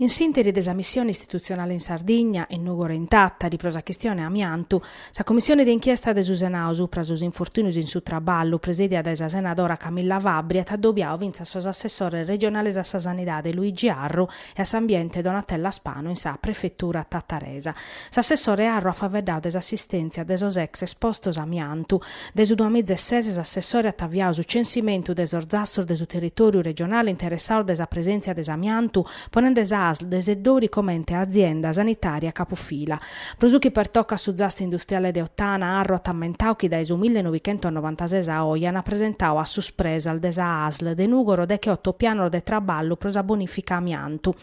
In s'interi de sa missione istitutzionale in Sardigna, in Nùgoro e in Tàtari pro sa chistione amiantu, sa Cummissione de inchiesta de su Senadu supra sos infortùnios in su traballu, presèdia dae sa senadora Camilla Fabbri, at adobiadu fintzas sos assessores regionales a sa Sanidade Luigi Arru e a s'Ambiente Donatella Spanu in sa Prefetura tataresa. S'assessore Arru at faeddadu de s'assistèntzia de sos ex espostos amiantu, Dae su duamizesese s'assessoradu at aviadu su censimentu de sos zassos de su territòriu regionale interessados dae sa presèntzia de s'amiantu, ponende sa asl de Seddori comente a azienda sanitària capufila. Pro su chi pertocat su zasso industriale de Ottana, Arru at ammentadu chi dae su millenovichentosnovantases a oe an presentadu a su Spresal de sa asl de Nùgoro deche oto pianos de traballu pro sa bonìfica amiantu,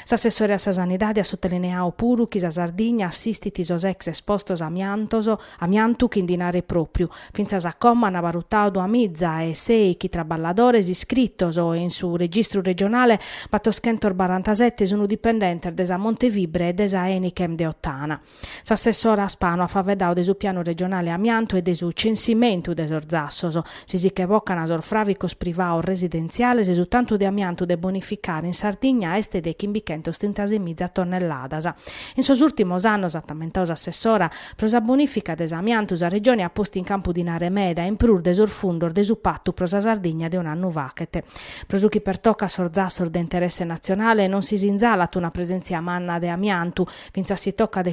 S'assessore a sa Sanidade at sotelineadu puru chi sa Sardigna assistit sos ex espostos amiantos, amiantu chi ndi naret pròpiu, fintzas a como an avalutadu duamiza e sei chi traballadores iscritos e in su registru regionale battoschentos barantasette sun dipendentes de sa Montefibre e de sa Enichem de Ottana. S'assessora Spano at faveddadu de su pianu regionale amiantu e de su censimentu de sos zassos. Si si che bocan sos fràvicos privados residentziales, su tantu de amiantu de bonificare in Sardigna est de chimbichentos trintases miza tonnelladas. In sos ùrtimos annos, at ammentadu s'assessora, pro sa bonìfica de s'amiantu sa Regione at postu in campu dinare meda in prus de sos fundos de su Patu pro sa Sardigna de un'annu faghet. Pro su chi pertocat sos zassos de interesse natzionale, non si sinzalat una presèntzia manna de amiantu, Fintzas si tocat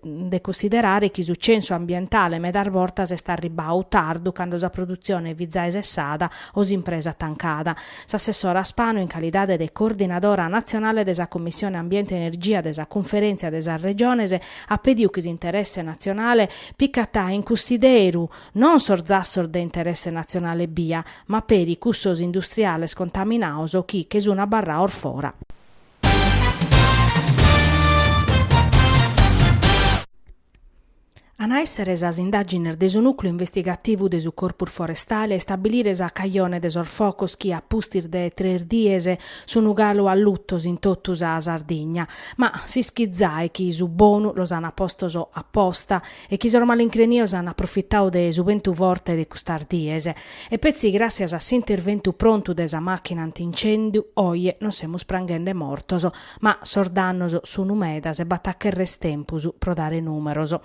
de cussiderare chi su censu ambientale medas bortas est arribbadu tardu cando sa produtzione fit zai sessada o s'impresa tancada. S'assessora Spano in calidade de coordinadora natzionale de sa Commissione Ambiente e Energia de sa Cunferèntzia de sas Regiones at pediu chi s'interesse natzionale picat in cussideru non sos zassos de interesse natzionale ebbia ma peri cussos industriales contaminados chi che sun abarrados fora An a èssere sas indàgines de su nùcleu investigativu de su Corpus Forestale a istabilire sa cajone de sos focos chi a pustis de tres dies sun galu allutos in totu sa Sardigna. Ma s'ischit zai chi su bonu los ant apostos aposta e chi sos malincrenios ant aprofitadu de su bentu forte de custas dies. E petzi gràssias a s'interventu prontu de sa màchina anti-incèndiu oje non semus pranghende mortos, ma sos dannos sunu medas e b'at a cherrer tempus pro dare nùmeros.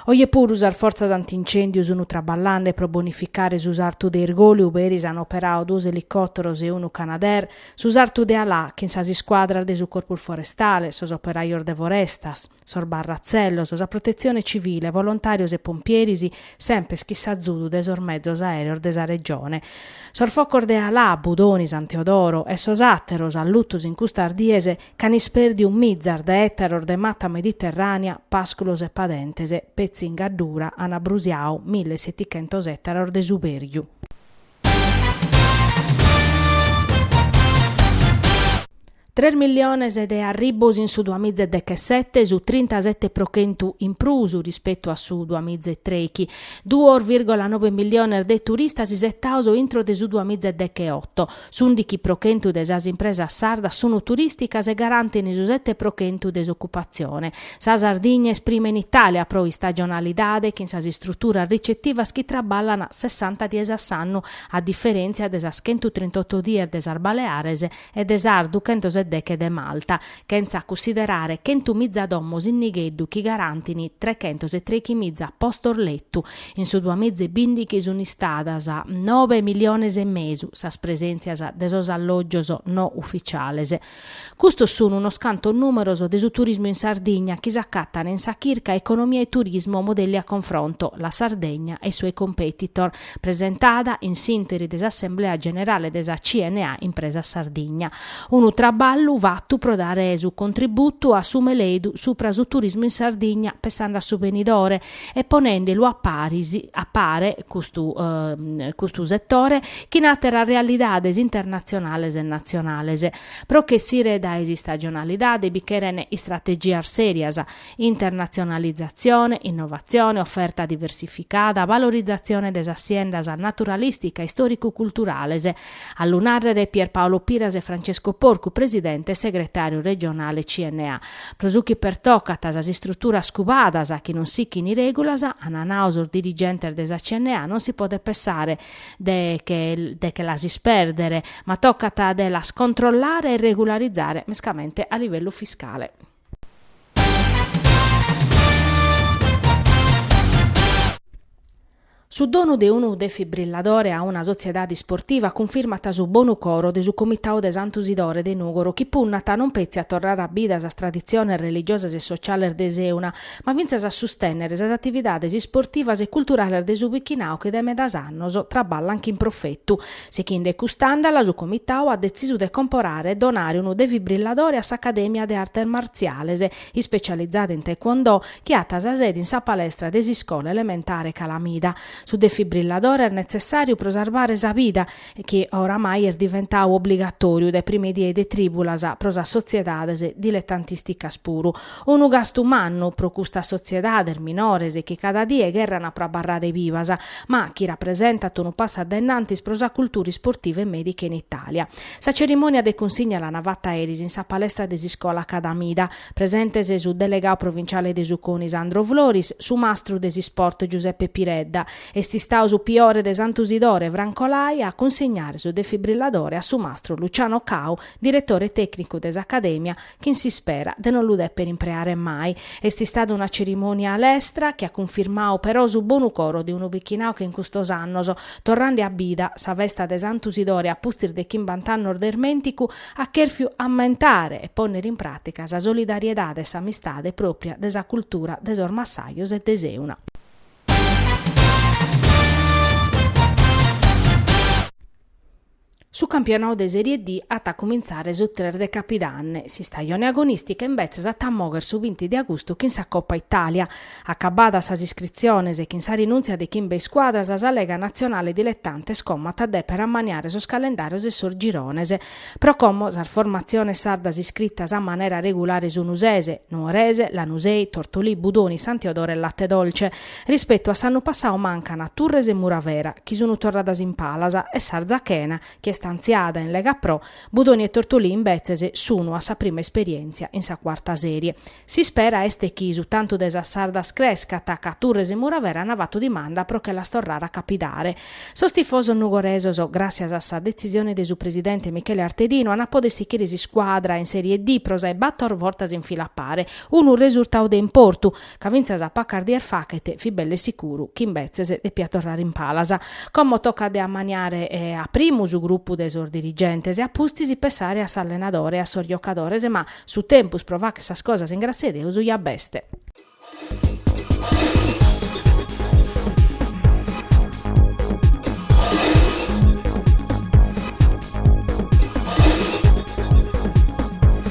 Oje puru sas fortzas anti-incèndiu sunu traballende pro bonificare su sartu de Irgòliu, beris an operadu duos elicòteros e unu Canadair, su sartu de Alà chin sas iscuadras de su Corpus Forestale, sos operajos de forestas, sos barratzellos, sa Protetzione Civile, volontàrios e pompieris, semper chin s'azudu de sos mezos aèreos de sa Regione. Sos focos de Alà, Budoni, San Teodoro e sos àteros allutos in custas dies ch'an ispèrdiu mizas de ètaros de mata mediterrànea, pàsculos e padentes, petzi in Gaddura an abrusiau mille e setichentos ètaros de subèrgiu. Tres milliones de arribbos in su duamiza e dechesete, su trintasete pro chentu in prus rispetu a su duamiza e trechi. Duos virgola nobe milliones de turistas isetaos intro de su duamiza e decheoto. S'undichi pro chentu de sas impresas sardas sunt turìsticas e garantin su sete pro chentu de s'ocupatzione. Sa Sardigna est prima in Itàlia pro istagionalidade chin sas istruturas ricetivas chi traballan sessanta dies a s'annu, a diferèntzia de sas chentu trint'oto dies de sas Baleares e de sas duchentos e deche de Malta, chentza cussiderare chentu miza domos in nigheddu chi garantin trechentos e trechi miza postos letu. In su duamiza e bìndichi sunt istadas nobe miliones e mesu sas presèntzias de sos allògios no ufitziales. Custos sun unos cantos nùmeros de su turismu in Sardigna chi s'acatan in sa chirca Economia e Turismo, modelli a confronto, La Sardegna e i suoi competitor, presentada in s'interi de s'assemblea generale de sa CNA Impresas Sardigna. Unu traballu fatu pro dare su contributu a su meledu supra su turismu in Sardigna, pessande a su benidore, e ponende lu a pare a pare custu custu setore chin àteras realidades internatzionales e natzionales. Pro ch'essire dae s'istagionalidade bi cheren istrategias sèrias, internatzionalizatzione, innovatzione, oferta diversificada, valorizatzione de sas siendas naturalìstica e istòricu-culturales, A lu nàrrere Pierpaolo Piras e Francesco Porcu, presidente e segretàriu regionale CNA. Pro su chi pertocat sas istruturas cubadas chi non sichin règulas, ant nau sos dirigentes de sa CNA, non si podet pessare de che las ispèrdere, ma tocat de las controllare e regularizare, mescamente a livellu fiscale. Su donu de unu defibrilladore a una sotziedade isportiva cunfirmat su bonu coro de su Comitau de Santu Sidore de Nùgoro chi punnat non petzi a torrare a bida sas traditziones religiosas e sociales de Seuna ma fintzas a sustènnere sas atividades isportivas e culturales de su bichinau chi de medas annos traballant chin profetu. Sichinde cust'àndala su Comitau at detzisu de comporare e donare unu defibrilladore a s'Acadèmia de Artes Martziales ispecializada in taekwondo, chi at sa sede in sa palestra de s'iscola elementare Calamida. Su defibrilladore est netzessàriu pro sarvare sa vida chi oramai est diventadu obligatòriu dae prima die de trìbulas pro sas sotziedades diletantisticas puru. Unu gastu mannu pro custas sotziedades minores chi cada die cherrana pro abarrare bivas, ma chi rapresentant unu passu a dae innantis pro sa cultura isportiva e mèdica in Itàlia. Sa cerimònia de cunsigna l'ana fata eris in sa palestra de s'iscola Calamida. Presentes su delegau provinciale de su Coni Sandro Floris, su mastru de s'isport Giuseppe Piredda. Est istau su priore de Santu Sidore, Franco Lai, a cunsignare su defibrilladore a su mastru Luciano Cau, diretore tecnicu de s'Academia, Chin s'ispera de non lu deper impreare mai. Est istada una cerimònia a lestra chi at cunfirmadu però su bonu coro de unu bichinadu chi in custos annos, torrande a bida sa festa de Santu Sidore a pustis de chimbant'annos de ismènticu, at chèrfiu ammentare e pònnere in pràtica sa solidariedade e s'amistade pròpria de sa cultura de sos massajos e de Seuna. Su campionau de Serie D at a cumintzare su tres de capidanne, s'istajone agonìstica imbetzes at a moghere su binti de agustu chin sa Copa Itàlia. Acabadas sas iscritziones e chin sa rinùntzia de chimbe iscuadras, sa Lega Natzionale Diletantes como at a dèpere ammaniare sos calendàrios e sos girones. Pro como sas formatziones sardas iscritas a manera regulare sunu ses, Nuorese, Lanusei, Tortolì, Budoni, San Teodoro e Latte Dolce. Rispetu a s'annu passau mancana Turres e Muravera, chi sunu torradas in palas, e s'Arzachena, chi est antziada in Lega Pro, Budoni e Tortolì imbetzes sunu a sa prima esperièntzia in sa Cuarta Sèrie. S'ispera est chi su tantu de sas sardas crescat ca Turres e Muravera ant fatu dimanda pro che las torrare a capidare. Sos tifosos nugoresos, gràssias a sa detzisione de su presidente Michele Artedinu, ant a pòdere sichire s'iscuadra in Sèrie D pro sas bator bortas in fila a pare, unu resurtau de importu, ca fintzas a pacas dies faghet, fit belle sicuru chi imbetzes depiat torrare in palas. Como tocat de ammaniare a primu su grupu de sos dirigentes e a pustis pessare a s'allenadore e a sos giocadores, ma su tempus pro fagher sas cosas in grassia 'e Deus ja b'est.